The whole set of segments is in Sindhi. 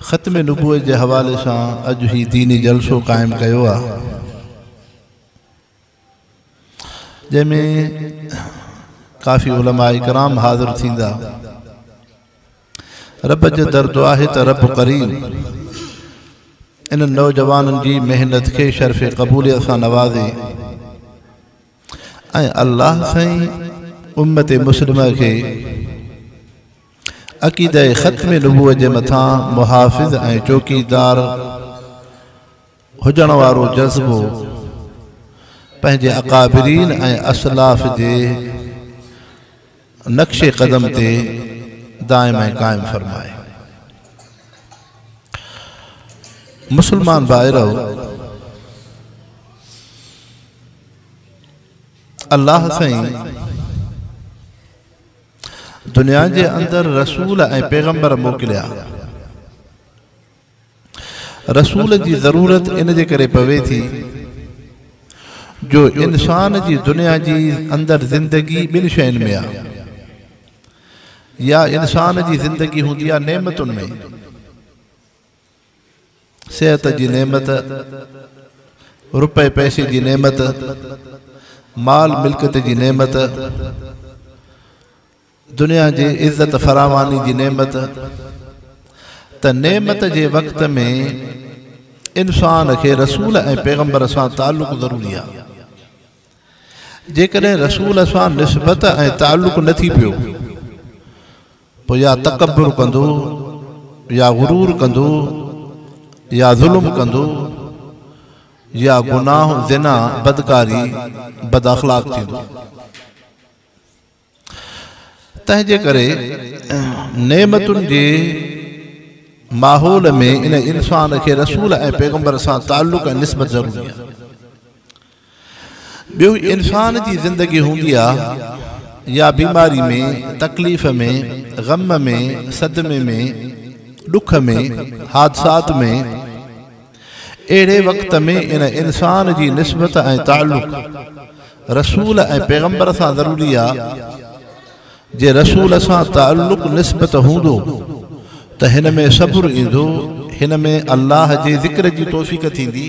ختم نبوت جي حوالي سان اڄ هي ديني جلسو قائم ڪيو آ جنهن ۾ ڪافي علماء ڪرام حاضر ٿيندا رب جي در دعا آهي ته رب ڪريم انهن نوجوانن جي محنت کي شرف قبوليت سان نوازي ۽ الله سائين امت مسلمه کي عقيده ختم نبوت جي مٿان محافظ ۽ چوڪيدار هجڻ وارو جذبو پنهنجي اڪابرين ۽ اسلاف جي نقش قدم تي دائم ۽ قائم فرمائي مسلمان بائرو الله سائين دنيا جي اندر رسول ۽ پيغمبر موڪليا. رسول جي ضرورت ان جي ڪري پوي ٿي جو انسان جي دنيا جي اندر زندگي ٻن شين ۾ آ. يا انسان جي زندگي هوندي آ نعمتن ۾. صحت جي نعمت، رپئي پئسي جي نعمت، مال ملڪيت جي نعمت، دنيا جي عزت فراواني جي نعمت ته نعمت جي وقت ۾ انسان کي رسول ۽ پيغمبر سان تعلق ضروري آ. جيڪڏهن رسول سان نسبت ۽ تعلق نه ٿي پيو پوء يا تڪبر ڪندو يا غرور ڪندو يا ظلم ڪندو يا گناهه زنا بدڪاري بد اخلاق ٿيندو تنهن جي ڪري نعمتن جي ماحول ۾ ان انسان کي رسول ۽ پيغمبر سان تعلق ۽ نسبت ضروري آهي ٻيو انسان جي زندگي هوندي آ يا بيماري ۾، تڪليف ۾، غم ۾، صدمي ۾، ڏک ۾، حادثات ۾، اهڙي وقت ۾ ان انسان جي نسبت ۽ تعلق رسول ۽ پيغمبر سان ضروري آ، جي رسول سان تعلق نسبت هوندو ته هن ۾ صبر ايندو، هن ۾ الله جي ذڪر جي توفيق ٿيندي.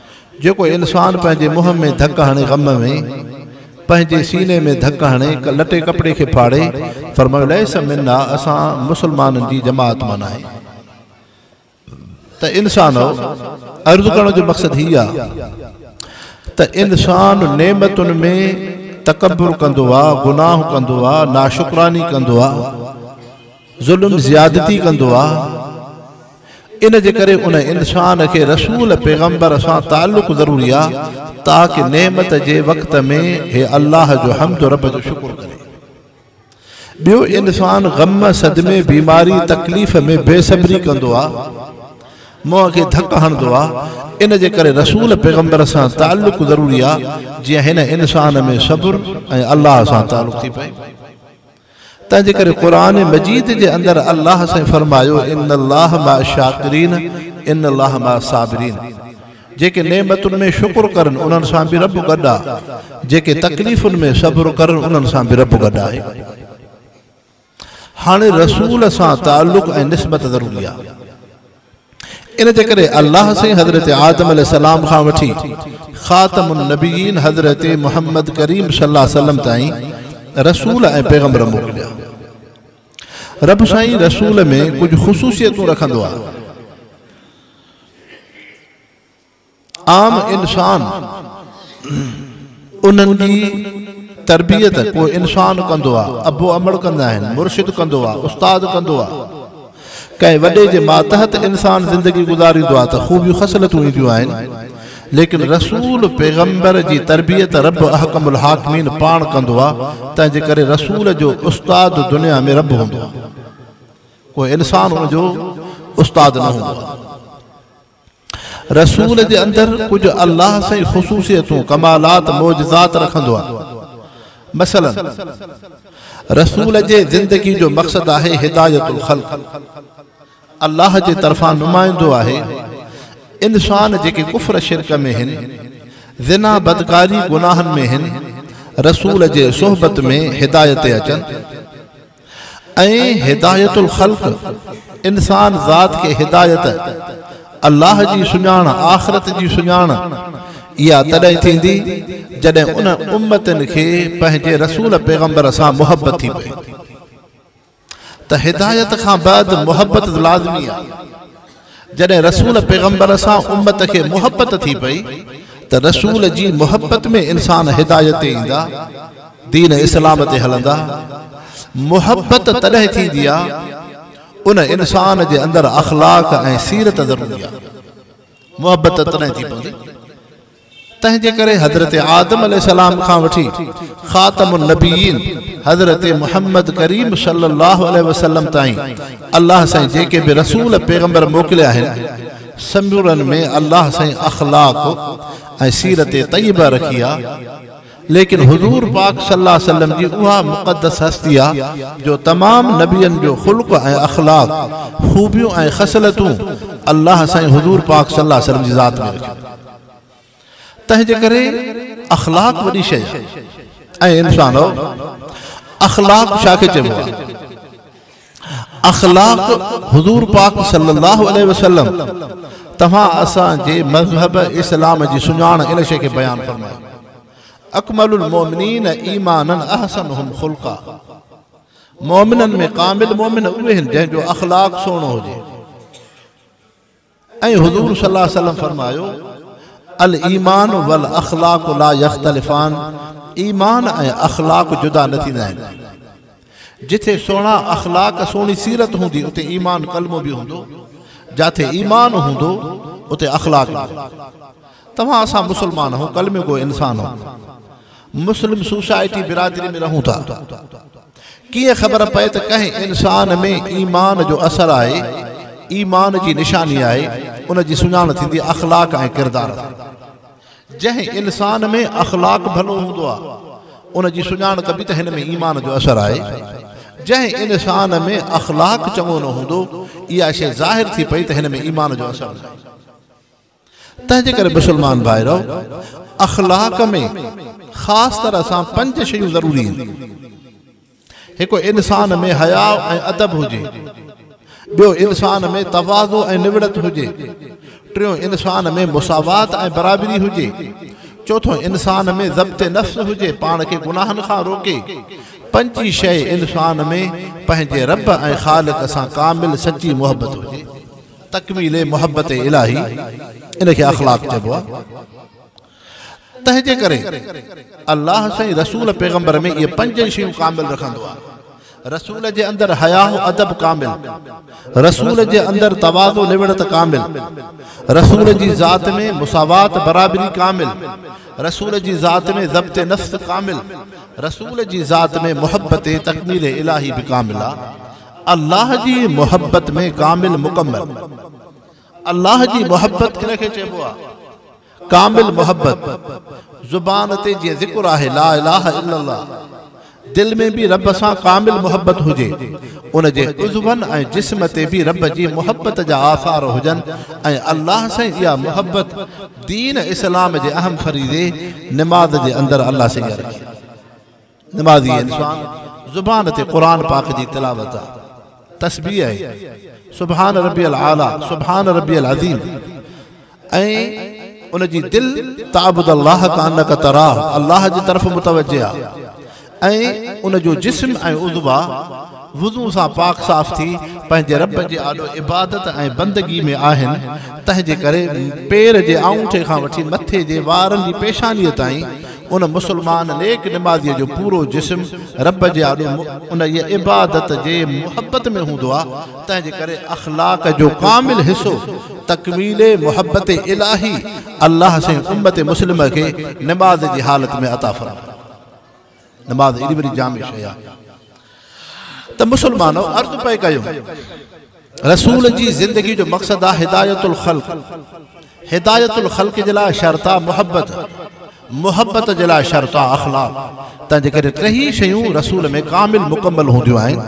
جيڪو انسان پنهنجي منهن ۾ ڌڪ هڻي غم ۾، پنهنجي سيني ۾ ڌڪ هڻي لٽي ڪپڙي کي ڦاڙي، فرمايو ليس منا اسان مسلمانن جي جماعت مان ناهي. ته انسانؤ! عرض ڪرڻ جو مقصد هي آ ته انسان نعمتن ۾ تڪبر ڪندو آ، گناهه ڪندو آ، ناشڪراني ڪندو آ، ظلم زيادتي ڪندو آ، ان جي ڪري ان انسان کي رسول، پيغمبر، سان تعلق ضروري آ تاڪه نعمت جي وقت ۾ هي الله جو حمد رب جو شڪر ڪري. ٻيو انسان غم، صدمي، بيماري، تڪليف ۾ بي صبري ڪندو آ، منهن کي ڌڪ هڻندو آ، ان جي ڪري رسول، پيغمبر، سان تعلق ضروري آ جيئن هن انسان ۾ صبر ۽ الله سان تعلق ٿي پئي. تنهنجي ڪري قرآن مجيد جي اندر الله سائين فرمايو ان الله مع الشاڪرين ان الله مع الصابرين جيڪي نعمتن ۾ شڪر ڪرن انهن سان به رب گڏ آ جيڪي تڪليفن ۾ صبر ڪرن انهن سان به رب گڏ آهي هاڻي رسول سان تعلق ۽ نسبت ضروري آ ان جي ڪري الله سائين حضرت آدم عليه السلام کان وٺي خاتم النبيين حضرت محمد ڪريم صلي الله عليه وسلم تائين رسول ۽ پيغمبر موڪليا. رب سائين رسول ۾ ڪجهه خصوصيتون رکندو آهي. عام انسان انهن جي تربيت ڪو انسان ڪندو آ، ابو امڙ ڪندا آهن، مرشد ڪندو آ، استاد ڪندو آ. ڪنهن وڏي جي ماتحت انسان زندگي گذاريندو آ ته خوبيون خصلتون اينديون آهن، ليڪن رسول پيغمبر جي تربيت رب احڪم الحاڪمين پاڻ ڪندو آ، تنهن جي ڪري رسول جو استاد دنيا ۾ رب هوندو آ. ڪو انسان ان جو استاد نه هوندو آ. رسول جي اندر ڪجهه الله سائين خصوصيتون، ڪمالات، معجزات رکندو آهي. مثلاً، رسول جي زندگي جو مقصد آهي هدايت الخلق، الله جي طرفان نمائندو آهي، انسان جيڪي ڪفر شرڪ ۾ هن، زنا بدڪاري گناهن ۾ هن، رسول جي صحبت ۾ هدايت تي اچن. ۽ هدايت الخلق، انسان ذات کي هدايت، الله جي سڃاڻ، آخرت جي سڃاڻ، اها تڏهن ٿيندي جڏهن ان امتن کي پنهنجي رسول پيغمبر سان محبت ٿي پئي ته هدايت کان بعد محبت لازمي آهي. جڏهن رسول پيغمبر سان امت کي محبت ٿي پئي ته رسول جي محبت ۾ انسان هدايت تي ايندا، دين اسلام تي هلندا. محبت تڏهن ٿيندي آ ان انسان جي اندر اخلاق ۽ سيرت ضروري آ. محبت تڏهن ٿي پوندي. تنهنجي ڪري حضرت آدم عليه السلام کان وٺي خاتم النبيين حضرت محمد ڪريم صلي الله عليه وسلم تائين الله سائين جيڪي به رسول پيغمبر موڪليا آهن سمورن ۾ الله سائين اخلاق ۽ سيرت طيبه رکي آهي ليڪن حضور پاڪ صلي الله عليه وسلم جي اها مقدس هستي آ جو تمام نبين جو خلق ۽ اخلاق خوبيون ۽ خصلتون الله سائين حضور پاڪ صلي الله عليه وسلم جي ذات ۾ رکيون تنهنجي ڪري اخلاق وڏي شيء آهي. اي انسانؤ! اخلاق ڇا کي چئبو آهي؟ اخلاق حضور پاڪ صلي الله عليه وسلم توهان اسان جي مذهب اسلام جي سڃاڻ ان شيء کي بيان فرمايو. اڪمل المؤمنين ايمانا احسنهم خلقا مؤمنن ۾ ڪامل مؤمن اهي آهن جنهن جو اخلاق سهڻو هجي. ۽ حضور صلي الله عليه وسلم فرمايو، الايمان والاخلاق لا يختلفان، ايمان ۽ اخلاق جدا نه ٿيندا آهن. جٿي سهڻا اخلاق، سهڻي سيرت هوندي اتي ايمان ڪلمو به هوندو، جاٿي ايمان هوندو اتي اخلاق به. توهان اسان مسلمان آهون، ڪلمي گو انسان آهون. مسلم سوسائٽي برادري ۾ رهون ٿا. ڪيئن خبر پئي ته ڪنهن انسان ۾ ايمان جو اثر آهي، ايمان جي نشاني آهي، ان جي سڃاڻ ٿيندي اخلاق ۽ ڪردار سان. جنهن انسان ۾ اخلاق ڀلو هوندو آهي، ان جي سڃاڻ ڪبي ته هن ۾ ايمان جو اثر آهي. جنهن انسان ۾ اخلاق چڱو نه هوندو، اها شيء ظاهر ٿي پئي ته هن ۾ ايمان جو اثر ناهي. تنهنجي ڪري مسلمان ڀائرو! اخلاق ۾ خاص طرح سان پنج شيون ضروري آهن. هڪ انسان ۾ حياء ۽ ادب هجي. ٻيو انسان ۾ تواضع ۽ نوڙت هجي. ٽيون انسان ۾ مساوات ۽ برابري هجي. چوٿون انسان ۾ ضبط نفس هجي پاڻ کي گناهن کان روڪي. پنجين شيء انسان ۾ پنهنجي رب ۽ خالق سان ڪامل سچي محبت هجي. تڪميل محبت الاھي ان کي اخلاق چئبو آ تنهن جي ڪري الله سائين رسول پيغمبر ۾ اهي پنج ئي شيون ڪامل رکندو آ رسول جي اندر حياء ادب ڪامل رسول جي اندر تواضع لوڙت ڪامل رسول جي ذات ۾ مساوات برابري ڪامل رسول جي ذات ۾ ضبط نفس ڪامل رسول جي ذات ۾ محبت تڪميل الاھي به ڪامل آ الله جي محبت ۾ ڪامل مڪمل الله جي محبت ڪنهن کي چئبو آهي ڪامل محبت زبان تي جيئن ذڪر آهي لا اله الا الله دل ۾ به رب سان ڪامل محبت هجي ان جي عضون ۽ جسم تي به رب جي محبت جا آثار هجن ۽ الله سائين اها محبت دين اسلام جي اهم فريضي نماز جي اندر الله سائين رکي نمازي انسان زبان تي قرآن پاڪ جي تلاوت، تسبيح ۽ سبحان ربي الاعليٰ، سبحان ربي العظيم ۽ ان جي دل تعبد الله ڪانڪ تراه، الله جي طرف متوجه آ ۽ ان جو جسم ۽ عضوا وضو سان پاڪ صاف ٿي پنهنجي رب جي آڏو عبادت ۽ بندگي ۾ آهن، تنهن جي ڪري پير جي آڱوٺي کان وٺي مٿي جي وارن جي پيشانيء تائين ان مسلمان نيڪ نمازيء جو پورو جسم رب جي آڏو انهيء عبادت جي محبت ۾ هوندو آهي، تنهن جي ڪري اخلاق جو ڪامل حصو تڪميل محبت الاهي الله سائين امت مسلمه کي نماز جي حالت ۾ عطا فرمائي. نماز ايڏي وڏي جامع شيء آ ته مسلمانو عرض پئي ڪيو رسول جي زندگي جو مقصد آ هدايت الخلق هدايت الخلق جي لاء شرط آ محبت محبت جي لاء شرط آ اخلاق تنهن جي ڪري ٽيهي شيون رسول ۾ ڪامل مڪمل هونديون آهن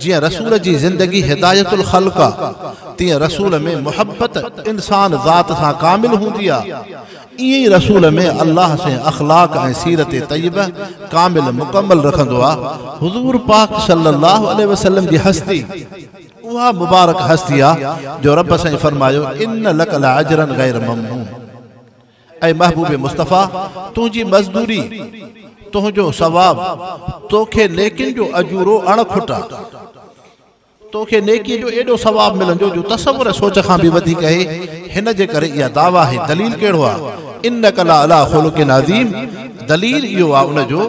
جيئن رسول جي زندگي هدايت الخلق آ تيئن رسول ۾ محبت انسان ذات سان ڪامل هوندي آ ايئن ئي رسول ۾ الله سين اخلاق ۽ سيرت طيبه ڪامل مڪمل رکندو آ. حضور پاڪ صلي الله عليه وسلم جي هستي اها مبارڪ هستي آ جو رب سائين فرمايو ان لڪ لاجرا غير ممنون اي محبوب مصطفيٰ تنهنجي مزدوري تنهنجو ثواب توکي نيڪين جو اجورو اڻ کٽ آ. تو کي نيڪيء جو ايڏو ثواب ملندو جو تصور ۽ سوچ کان به وڌيڪ اهي، هن جي ڪري اها دعويٰ آهي، دليل ڪهڙو آهي، انک لعليٰ خلق عظيم، دليل اهو آهي ان جو،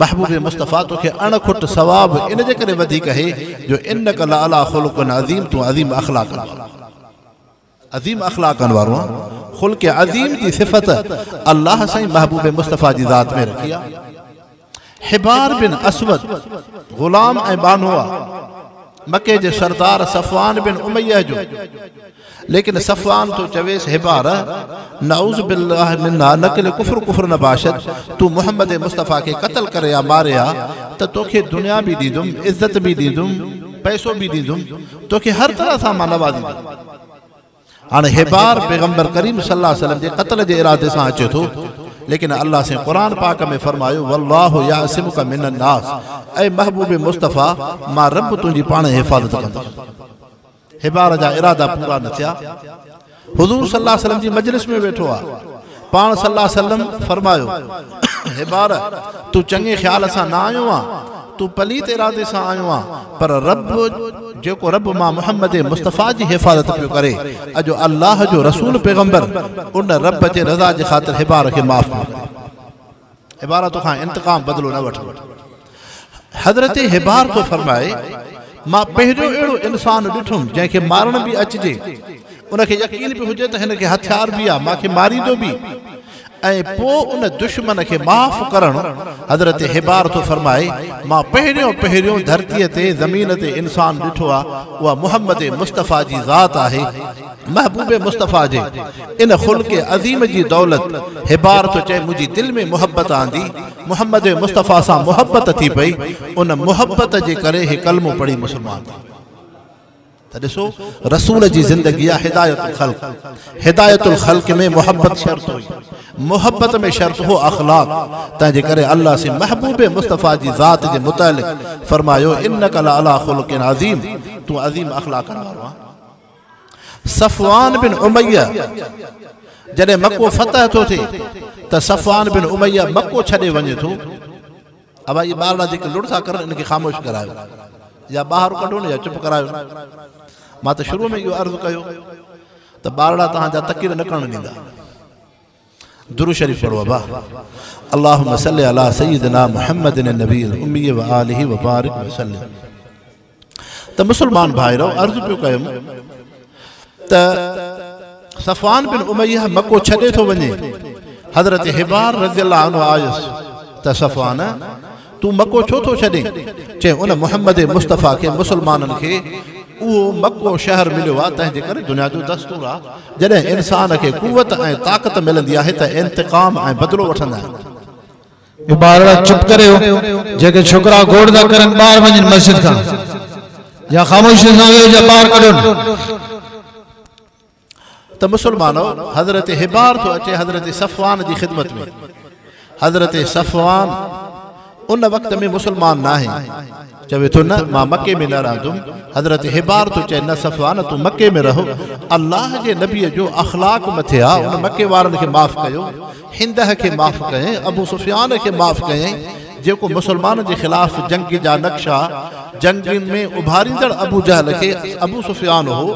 محبوب مصطفيٰ تو کي اڻ کٽ ثواب ان جي ڪري وڌيڪ اهي جو انک لعليٰ خلق عظيم تون عظيم اخلاقن وارو آهين. عظيم اخلاقن وارو آن خلق عظيم جي صفت الله سائين محبوب مصطفيٰ جي ذات ۾ رکي آ. حبار بن اسود غلام ۽ ٻانهو آ. مڪي جي سردار صفوان بن اميه جو. ليڪن صفوان ٿو چويس حبار نعوذ بالله منا نقل ڪفر ڪفر نه باشد تون محمد مصطفيٰ کي قتل ڪري آ ماري آ ته توکي دنيا به ڏيندم عزت به ڏيندم پئسو به ڏيندم توکي هر طرح سان مان نوازيندس. هاڻ هيبار پيغمبر ڪريم صلي الله عليه وسلم جي قتل جي ارادي سان اچي ٿو ليڪن الله سين قرآن پاڪ ۾ فرمايو والله يعصمک من الناس اي محبوب مصطفيٰ مان رب تنهنجي پاڻهين حفاظت ڪندس. هيبار جا ارادا پورا نه ٿيا. حضور صلي الله عليه وسلم جي مجلس ۾ ويٺو آ پاڻ صلي الله عليه وسلم فرمايو حبار تون چڱي خيال سان نه آيو آ تون پليت ارادي سان آيو آ پر رب جيڪو رب مان محمد مصطفي جي حفاظت پيو ڪري اڄ الله جو رسول پيغمبر ان رب جي رضا جي خاطر حبار کي معاف ڪري عبارت کان انتقام بدلو نه وٺ حضرت حبار ٿو فرمائي مان پهريون اهڙو انسان ڏٺم جنهن کي مارڻ به اچجي ان کي يقين به هجي ته هن کي هٿيار به آ ماکي ماريندو به ۽ پو ان دشمن کي معاف ڪرڻ حضرت حبار ٿو فرمائي مان پهريون پهريون ڌرتي تي زمين تي انسان ڏٺو آ اها محمد مصطفيٰ جي ذات آهي محبوب مصطفيٰ جي ان خلق عظيم جي دولت حبار ٿو چئي منهنجي دل ۾ محبت آندي محمد مصطفيٰ سان محبت ٿي پئي ان محبت جي ڪري هي ڪلمو پڙهي مسلمان ٿي ويو ته ڏسو رسول جي زندگي آ هدايت الخلق هدايت الخلق ۾ محبت شرط هئي محبت ۾ شرط هو اخلاق تنهن جي ڪري الله سي محبوب مصطفيٰ جي ذات جي متعلق فرمايو انڪ لعلي خلق عظيم تون عظيم اخلاقن وارو آ صفوان بن اميه جڏهن مڪو فتح ٿو ٿئي ته صفوان بن اميه مڪو ڇڏي وڃي ٿو ابا اهي ٻارڙا جيڪي لڙ ٿا ڪرن ان کي خاموش ڪرايو يا ٻاهر ڪڍو نه يا چپ ڪرايو مان ته شروع ۾ اهو عرض ڪيو ته ٻارڙا تهان جا تڪير نه ڪرڻ ڏيندا درود شريف پڙهو ابا اللهم صل علي سيدنا محمد النبي الامي واله وبارك وسلم ته مسلمان ڀائرو عرض پيو ڪيم ته صفوان بن اميه مڪو ڇڏي ٿو وڃي حضرت حبار رضي الله عنه آيس ته صفوان تون مڪو ڇو ٿو ڇڏين؟ چي ان محمد مصطفيٰ کي مسلمانن کي اهو مڪو شهر مليو آهي تنهن جي ڪري دنيا جو دستور آهي جڏهن انسان کي قوت ۽ طاقت ملندي آهي ته انتقام ۽ بدلو وٺندا آهن. اي ٻارڙا چپ ڪري ويهو جيڪي ڇوڪرا گوڙ ٿا ڪرن ٻاهر وڃن مسجد کان يا خاموشي سان ويهو جا ٻاهر ڪڍون. ته مسلمانو! حضرت حبار ٿو اچي حضرت صفوان جي خدمت ۾. حضرت صفوان ان وقت ۾ مسلمان ناهي. چوي ٿو نه مان مڪي ۾ نه رهندم. حضرت حبار ٿو چئي نه صفوان تون مڪي ۾ رهو. الله جي نبيء جو اخلاق مٿي آ، ان مڪي وارن کي معاف ڪيو. هندهه کي معاف ڪيائين، ابو سفيان کي معاف ڪيائين، جيڪو مسلمانن جي خلاف جنگ جا نقشا جنگين ۾ اڀاريندڙ ابو جهل کي ابو سفيان هو،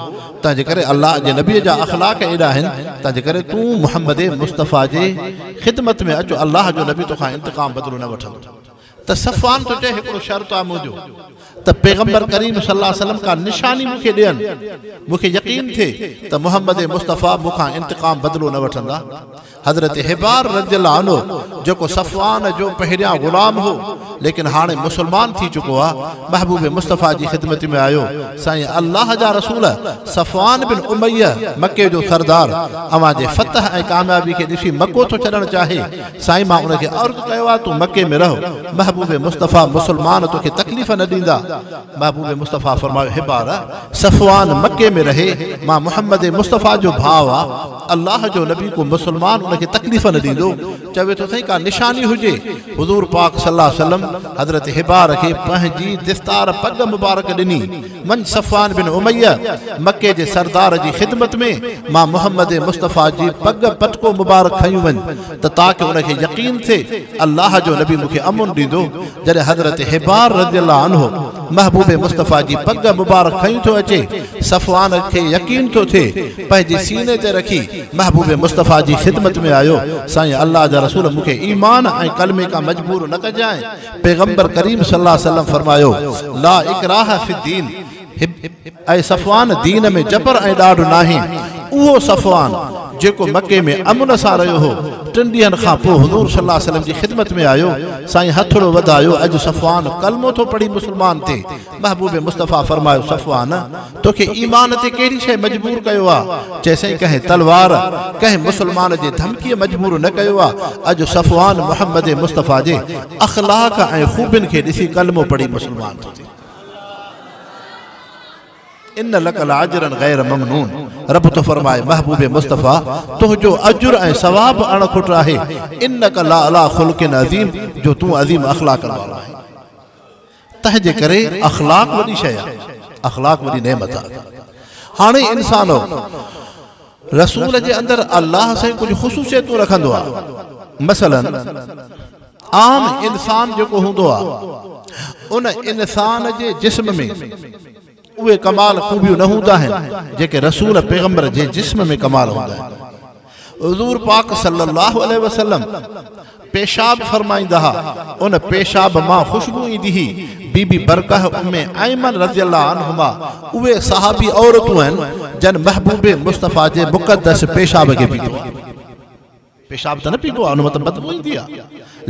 تنهن جي ڪري الله جي نبي جا اخلاق ايڏا آهن، تنهن جي ڪري تون محمد مصطفيٰ جي خدمت ۾ اچ الله جو نبي توکان انتقام بدلو نه وٺندو. ته صفوان ٿو چئي هڪڙو شرط آ منهنجو ته پيغمبر ڪريم صلي الله عليه وسلم ڪا نشاني مون کي ڏين مون کي يقين ٿئي ته محمد مصطفيٰ مون کان انتقام بدلو نه وٺندا حضرت حبار رضي الله عنه جيڪو صفوان جو پهريان غلام هو ليڪن هاڻي مسلمان ٿي چڪو آ محبوب مصطفيٰ جي خدمت ۾ آيو سائين الله جا رسول صفوان بن اميه مڪي جو سردار اوهان جي فتح ۽ ڪاميابي کي ڏسي مڪو ٿو ڇڏڻ چاهي سائين مان ان کي عرض ڪيو آ تون مڪي ۾ رهه محبوب مصطفي مسلمان توکي تڪليف نه ڏيندا محبوب مصطفي فرمايو حبار صفوان مڪي ۾ رهي مان محمد مصطفي جو ڀاء آ الله جو نبي ڪو مسلمان ان کي تڪليف نه ڏيندو چوي ٿو سائين ڪا نشاني هجي حضور پاڪ صلعم حضرت حبار کي پنهنجي دستار پڳ مبارڪ ڏني من صفوان بن اميه مڪي جي سردار جي خدمت ۾ مان محمد مصطفيٰ جي پڳ پٽڪو مبارڪ کنيون وڃ ته تاڪه ان کي يقين ٿئي الله جو نبي مون کي امن ڏيندو جڏهن حضرت حبار رضي الله عنه محبوب مصطفيٰ جي پڳ مبارڪ کنيون ٿو اچي صفوان کي يقين ٿو ٿئي پنهنجي سيني تي رکي محبوب مصطفيٰ جي خدمت ۾ آيو سائين الله جا رسول مون کي ايمان ۽ ڪلمي کان مجبور نه ڪجانء پيغمبر ڪريم صلي الله عليه وسلم فرمايو، لا اڪراھ في الدين، اي صفوان دين ۾ جبر ۽ ڏاڍ ناهي، اهو صفوان جيڪو مڪي ۾ امن سان رهيو هو، ٽن ڏينهن کان پوء حضور صلي الله عليه وسلم جي خدمت ۾ آيو، سائين هٿڙو وڌايو، اڄ صفوان ڪلمو ٿو پڙهي مسلمان ٿئي، محبوب مصطفيٰ فرمايو صفوان! توکي ايمان تي ڪهڙي شيء مجبور ڪيو آ؟ چئي سائين ڪنهن تلوار، ڪنهن مسلمان جي ڌمڪيء مجبور نه ڪيو آ. اڄ صفوان محمد مصطفيٰ جي اخلاق ۽ خوبين کي ڏسي ڪلمو پڙهي مسلمان ٿو ٿئي. ان لڪ لاجرا غير ممنون رب ٿو فرمائي محبوب مصطفيٰ! تنهنجو اجر ۽ ثواب اڻ کٽ آهي. انڪ لعليٰ خلق عظيم جو تون عظيم اخلاقن وارو آهين. تنهن جي ڪري اخلاق وڏي شيء آهي، اخلاق وڏي نعمت آهي. هاڻي انسانو! رسول جي اندر الله سائين ڪجهه خصوصيتون رکندو آهي. مثلاً، عام انسان جيڪو هوندو آهي، ان انسان جي جسم ۾. اهي ڪمال خوبيون نه هوندا آهن جيڪي رسول پيغمبر جي جسم ۾ ڪمال هوندا آهن. حضور پاڪ صلي الله عليه وسلم پيشاب فرمائيندا ها ان پيشاب مان خوشبو ايندي هئي بي بي برقه ام ايمن رضي الله عنهما اهي صحابي عورتون آهن جن محبوب مصطفيٰ جي مقدس پيشاب کي پيتو آهي. پيشاب ته نه پيبو آهي ان مان ته بدبو ايندي آهي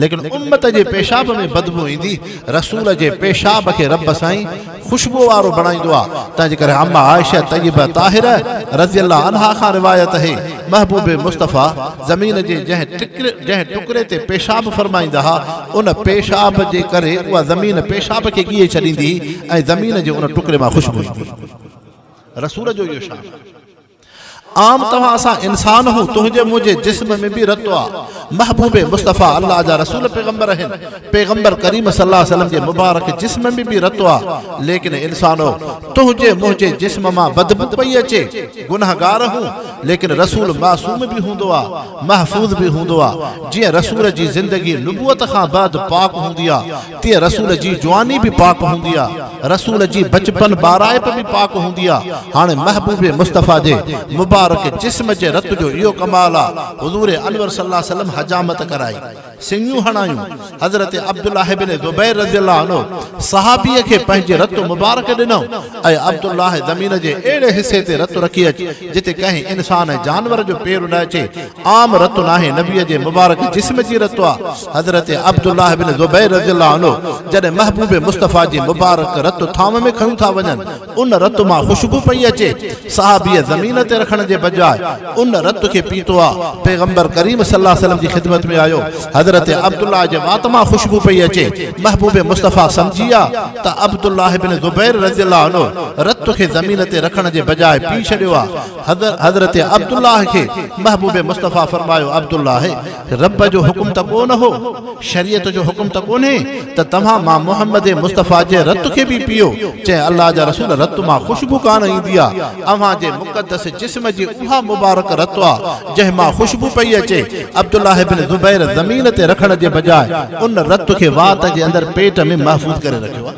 ليڪن امت جي پيشاب ۾ بدبو ايندي رسول جي پيشاب کي رب سائين خوشبو وارو بڻائيندو آهي تنهنجي ڪري ام عائشه طيبه طاهره رضي الله عنها کان روايت اهي محبوب مصطفي زمين جي جنهن جنهن ٽڪري تي پيشاب فرمائيندا ها ان پيشاب جي ڪري اها زمين پيشاب کي ڳيهي ڇڏيندي هئي ۽ زمين جي ان ٽڪري مان خوشبو ايندي هئي رسول جو اهو شان عام توهان اسان انسان اهون تنهنجي منهنجي جسم ۾ به رت آ محبوب مصطفي الله جا رسول پيغمبر اهن پيغمبر ڪريم صلي الله عليه وسلم جي مبارڪ جسم ۾ به رت آ ليڪن انسانو تنهنجي منهنجي جسم مان بدبو پئي اچي گنهگار اهون ليڪن رسول معصوم به هوندو آ محفوظ به هوندو آ جيئن رسول جي زندگي نبوت کان بعد پاڪ هوندي آ تيئن رسول جي جواني به پاڪ هوندي آ، رسول جي بچپن ٻارائپ به پاڪ هوندي آ، هاڻي محبوب مصطفيٰ جي مبارڪ جسم جي رت جو اهو ڪمال آ، حضور انور صلي الله عليه وسلم حجامت ڪرائي، سڱيون هڻايون، حضرت عبدالله بن زبير رضي الله عنه صحابيء کي پنهنجي رت مبارڪ ڏنائون ۽ عبدالله زمين جي اهڙي حصي تي رت رکي اچ جتي ڪنهن انسان ۽ جانور جو پير نه اچي، عام رت ناهي، نبي جي مبارڪ جسم جي رت آ. حضرت عبدالله بن زبير رضي الله عنه جڏهن محبوب مصطفيٰ جي مبارڪ رت ٿانو ۾ کڻيون ٿا وڃن، ان رت مان خوشبو پئي اچي، صحابيء زمين تي رکڻ جي بجاء ان رت کي پيتو آ، پيغمبر ڪريم صلي الله عليه وسلم جي خدمت ۾ آيو، حضرت عبدالله جي وات مان خوشبو پئي اچي، محبوب مصطفيٰ سمجهي ويا ته عبدالله بن زبير رضي الله عنه رت کي زمين تي رکڻ جي بجاء پي ڇڏيو آ. حضرت عبدالله کي محبوب مصطفيٰ فرمايو عبدالله! رب جو حڪم ته ڪو نه هو، شريعت جو حڪم ته ڪونهي ته توهان مان محمد مصطفيٰ جي رت کي به پيئو، چيائين الله جا رسول رت مان خوشبو ڪانه ايندي آ، اوهان جي مقدس جسم جي اها مبارڪ رت آ جنهن مان خوشبو پئي اچي، عبدالله بن زبير زمين تي رکڻ جي بجاء ان رت کي وات جي اندر پيٽ ۾ محفوظ ڪري رکيو آ.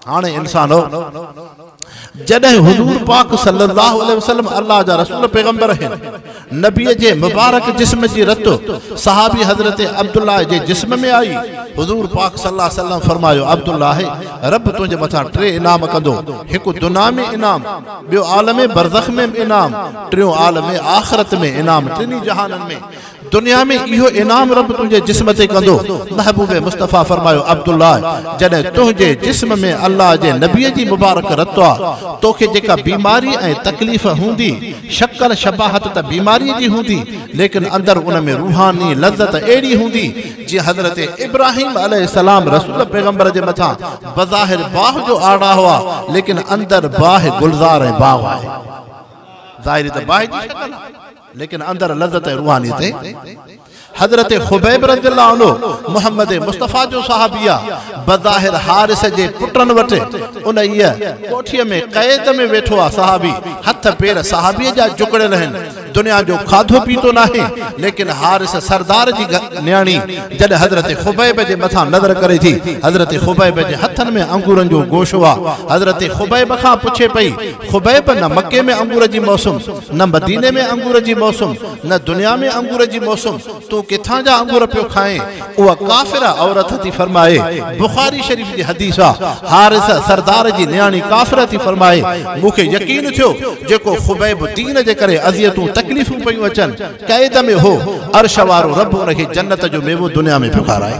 هاڻي انسانو! جڏهن حضور پاڪ صلّي اللّٰه عليه وسلّم الله جا رسول پيغمبر هن نبي جي مبارڪ جسم جي رت صحابي حضرت عبدالله جي جسم ۾ آئي، حضور پاڪ صلّي اللّٰه عليه وسلّم فرمايو، عبدالله! ربّ تنهنجي مٿان ٽي انعام ڪندو، هڪ دنيا ۾ انعام، ٻيو عالم برزخ ۾ انعام، ٽيون عالم آخرت ۾ انعام، ٽنهي جهانن ۾. دنيا ۾ اهو انعام رب تنهنجي جسم تي ڪندو. محبوب مصطفيٰ فرمايو، عبدالله! جڏهن تنهنجي جسم ۾ الله جي نبيء جي مبارڪ رتوء تو کي جيڪا بيماري ۽ تڪليف هوندي، شڪل شباهت ته بيماريء جي هوندي، ليڪن اندر ان ۾ روحاني لذت اهڙي هوندي، جيئن حضرت ابراهيم عليه السلام رسول پيغمبر جي مٿان بظاهر باهه جو آڙا هئا، ليڪن اندر باهه گلزار ۽ باغ آهي. ظاهري ته باهه جي شڪل آهي. ليڪن اندر لذت ۽ روحاني تي حضرت خبيب رضي الله عنه محمد مصطفيٰ جو صحابي آ بظاهر حارث جي پٽن وٽ ان ئي ڪوٺي ۾ قيد ۾ ويٺو آ صحابي هٿ پير صحابي جا جڪڙيل آهن دنيا جو کاڌو پيتو ناهي ليڪن حارث سردار جي نياڻي جڏهن حضرت خبيب جي مٿا نظر ڪري ٿي حضرت خبيب جي هٿن ۾ انگورن جو گوشو آ حضرت خبيب کان پڇي پئي خبيب نه مڪي ۾ انگور جي موسم نه مديني ۾ انگور جي موسم، نه دنيا ۾ انگور جي موسم، تون ڪٿان جا انگور پيو کائين؟ اها ڪافره عورت ٿي فرمائي، بخاري شريف جي حديث آ، حارثه سردار جي نياڻي ڪافره ٿي فرمائي، مون کي يقين ٿيو، جيڪو خبيب دين جي ڪري اذيتون تڪليفون پيون اچن، قيد ۾ هو، عرش وارو رب ان کي جنت جو ميوو دنيا ۾ پيو کارائي.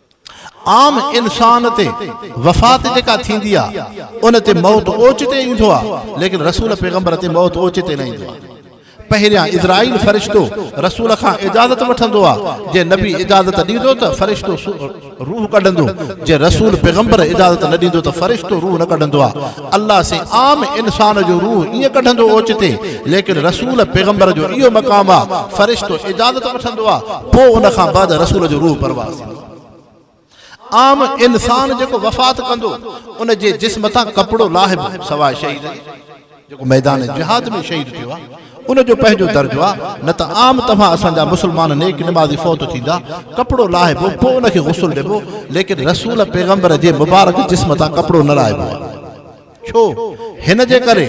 عام انسان تي وفات جيڪا ٿيندي آ ان تي موت اوچتي ايندو آ ليڪن رسول پيغمبر تي موت اوچتي نه ايندو آ. پهريان اسرائيل فرشتو رسول کان اجازت وٺندو آ جي نبي اجازت ڏيندو ته فرشتو روح ڪڍندو جي رسول پيغمبر اجازت نه ڏيندو ته فرشتو روح نه ڪڍندو آ. الله سي عام انسان جو روح ائين ڪڍندو اوچتي ليڪن رسول پيغمبر جو اهو مقام آ فرشتو اجازت وٺندو آ پوء ان کان بعد رسول جو روح پرواز ٿيندو آ عام انسان جيڪو وفات ڪندو ان جي جسم تان ڪپڙو لاهبو سواء شهيد جي جيڪو ميدان جهاد ۾ شهيد ٿيو آ ان جو پنهنجو درجو آ، نه ته عام توهان اسان جا مسلمان نيڪ نمازي فوت ٿيندا، ڪپڙو لاهبو، پوء ان کي غسل ڏبو، ليڪن رسول پيغمبر جي مبارڪ جسم تان ڪپڙو نه لاهبو آ. ڇو؟ هن جي ڪري،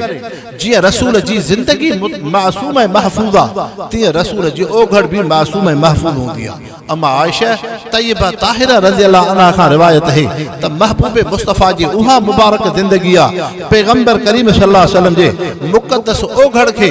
جيئن رسول جي زندگي معصوم ۽ محفوظ آ، تيئن رسول جي اوگهڙ به معصوم ۽ محفوظ هوندي آ. ام عائشه طيبه طاهره رضي الله عنها کان روايت اهي ته محبوب مصطفيٰ جي اها مبارڪ زندگي آ پيغمبر ڪريم صلي الله عليه وسلم جي مقدس اوگهڙ کي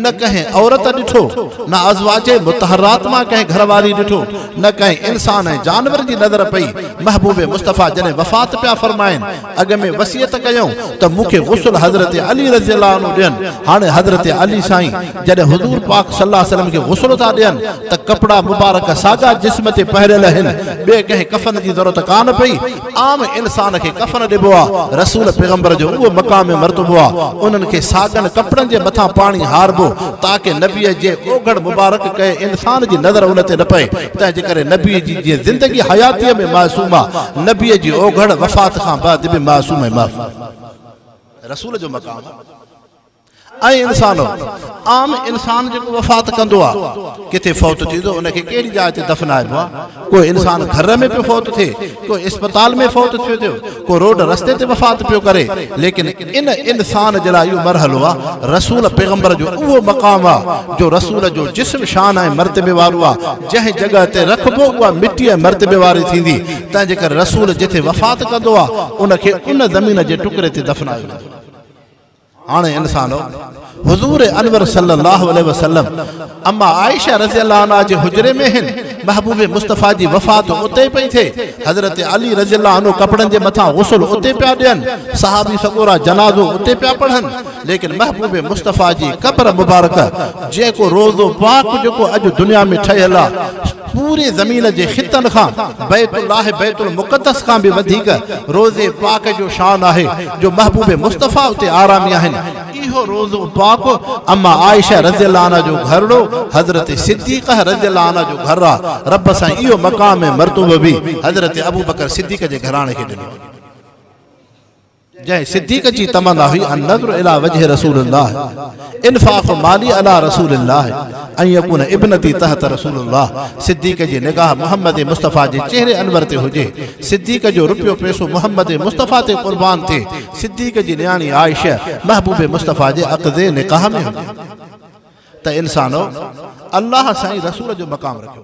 نه ڪنهن عورت ڏٺو نه ازواج مطهرات مان ڪنهن گهر واري ڏٺو نه ڪنهن انسان ۽ جانور جي نظر پئي محبوب مصطفيٰ جڏهن وفات پيا فرمائن اڳ ۾ وصيت ڪيائون ته مون کي غسل حضرت علي رضي الله عنه ڏين، هاڻي حضرت علي سائين جڏهن حضور پاڪ صلي الله عليه وسلم کي غسل ٿا ڏين ته ڪپڙا مبارڪ ساڳا جسم تي پهريل آهن، ٻئي ڪنهن ڪفن جي ضرورت ڪانه پئي، عام انسان کي ڪفن ڏبو آ، رسول پيغمبر جو اهو مقام ۽ مرتبو آ، انهن کي ساڳن ڪپڙن جي مٿان پاڻي هاربو تاڪه نبيء جي اوگهڙ مبارڪ ڪنهن انسان جي نظر ان تي نه پئي. تنهنجي ڪري نبيء جي جيئن زندگي حياتيء ۾ معصوم آ، نبيء جي اوگهڙ، وفات، کان بعد به معصوم ۽ معصوم رسول جو مقام آ. اي انسانؤ! عام انسان جيڪو وفات ڪندو آ، ڪٿي فوت ٿيندو، ان کي ڪهڙي جاء تي دفنائبو آ؟ ڪو انسان گهر ۾ پيو فوت ٿئي، ڪو اسپتال ۾ فوت ٿيو ٿيو ڪو روڊ رستي تي وفات پيو ڪري ليڪن ان انسان جي لاء اهو مرحلو آ رسول پيغمبر جو اهو مقام آ جو رسول جو جسم شان ۽ مرتبي وارو آ جنهن جڳهه تي رکبو اها مٽي ۽ مرتبي واري ٿيندي تنهن جي ڪري رسول جتي وفات ڪندو آ ان کي ان زمين جي ٽڪري تي دفنايو ويندو هاڻي انسانو! حضور انور صلي الله عليه وسلم اما عائشه رضي الله عنها جي حجري ۾ هن، محبوب مصطفيٰ جي وفات اتي پئي ٿئي، حضرت علي رضي الله عنه ڪپڙن جي مٿان غسل اتي پيا ڏين، صحابي سڳورا جنازو اتي پيا پڙهن، ليڪن محبوب مصطفيٰ جي قبر مبارڪه جيڪو روضو پاڪ جيڪو اڄ دنيا ۾ ٺهيل آ، پوري زمين جي خطن کان بيت الله بيت المقدس کان به وڌيڪ روضي پاڪ جو شان آهي جو محبوب مصطفي اتي آرامي آهن اهو روضو پاڪ اما عائشه رضي الله عنها جو گهرڙو حضرت صديقه رضي الله عنها جو گهر آ رب سائين اهو مقام ۽ مرتبو به حضرت ابوبڪر صديق جي گهراڻي کي ڏنو آهي. جنهن صديق جي تمنا هئي النظر الي وجه رسول الله انفاق مالي علي رسول الله ان يڪون ابنتي تحت رسول الله صديق جي نگاهه محمد مصطفي جي چهري انور تي هجي صديق جو روپيو پيسو محمد مصطفي تي قربان ٿئي صديق جي نياڻي عائشه محبوب مصطفي جي عقد نڪاح ۾ هجي ته انسانو الله سائين رسول جو مقام رکيو